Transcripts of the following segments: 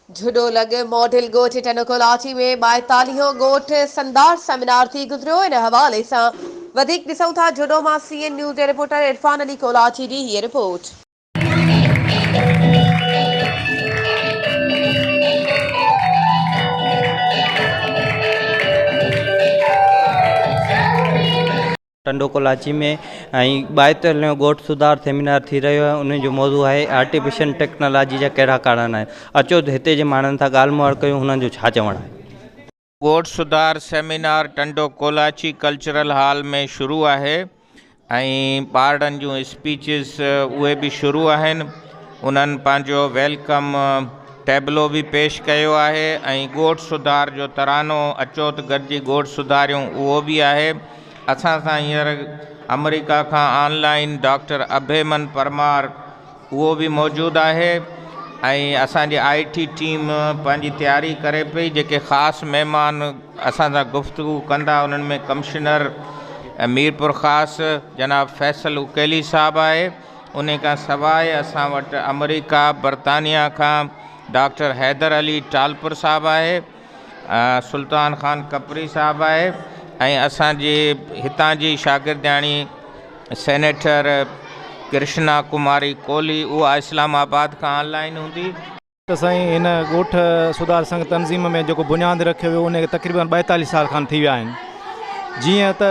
جھڏو لڳ ماڊل ڳوٺ ٽنڊو ڪولاچي ۾ ٻائيتاليهون ڳوٺ سندار سيمينار ٿي گذريو ان حوالي سان وڌيڪ ڏسون ٿا جھڏو مان سي اين نيوز جي رپورٽر عرفان علي ڪولاچي جي هيء رپورٽ. ٽنڊو ڪولاچي ۾ ۽ ٻائيتر نيو ڳوٺ سڌار سيمينار ٿي رهيو آهي انهن جو موضوع آهي آرٽيفيشل ٽيڪنالاجي جا ڪهڙا ڪارڻ آهن اچو ته هتي جي ماڻهن سان ڳالهه مهاڙ ڪيون هنن جو ڇا چوڻ آهي. ڳوٺ سڌار seminar Tando Kolachi cultural hall ۾ شروع آهي ۽ ٻارڙن جون اسپيچز اهي به شروع آهن انهن پنهنجو ويلڪم ٽيبلو به پيش ڪيو آهي ۽ ڳوٺ سڌار جو ترانو اچو ته گڏجي ڳوٺ سڌاريون اهو به آهي اسان سان هينئر آمريڪا کان online doctor Abhiman Parmar اهو به موجود آهي ۽ اسان جي آء ٽي ٽيم پنهنجي تياري ڪري پئي جيڪي خاص مهمان اسان سان گفتگو ڪندا انهن ۾ ڪمشنر ميرپور خاص جناب فيصل اڪيلي صاحب آهي انهي کان سواء اسان وٽ آمريڪا برطانيا کان ڊاڪٽر حيدر علي ٽالپر صاحب آهي سلطان خان کپري صاحب آهي ۽ اسان جي هتان جي شاگردياڻي سينيٽر ڪرشنا ڪماري ڪولهي اها اسلام آباد کان آن لائين هوندي. ته سائين هن ڳوٺ سڌار سنگهه تنظيم ۾ جيڪو بنياد رکيو ويو ان کي تقريبن ٻائيتاليهه سال کن ٿي ويا آهن جيئن ته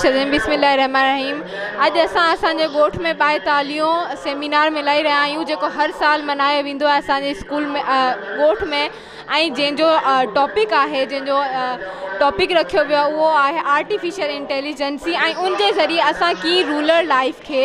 سڄڻ بسم الله الرحمٰن الرحيم اڄ اسان اسان جي ڳوٺ ۾ ٻائيتاليهون سيمينار ملهائي رهيا آهيون جيڪو هر سال ملهايو ويندو آهي اسان جي اسڪول ۾ ڳوٺ ۾ ۽ جنهن جو ٽاپڪ آهي جنهن جو ٽاپڪ رکيو ويو اهو آهي آرٽيفيشل انٽيليجنسي ۽ ان جي ذريعي اسان ڪيئن رولر لائف کي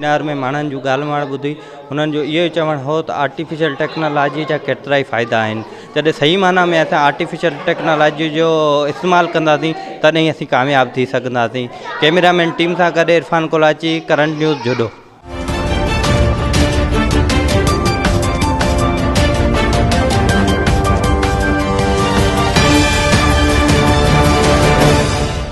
سيمينار ۾ ماڻهن جون ڳالهه ماڻهه ٻڌي انهن جو اهو ئي چوڻ هو ته آرٽيفيشل ٽيڪنالاجي جا ڪيترائي فائدا آهن جڏهن صحيح معنيٰ ۾ اسان آرٽيفيشل ٽيڪنالاجي جو استعمال ڪنداسين تڏهن ئي اسين ڪامياب ٿي سگهنداسين ڪيميرا مين ٽيم سان گڏ عرفان ڪولاچي ڪرنٽ نيوز جهڏو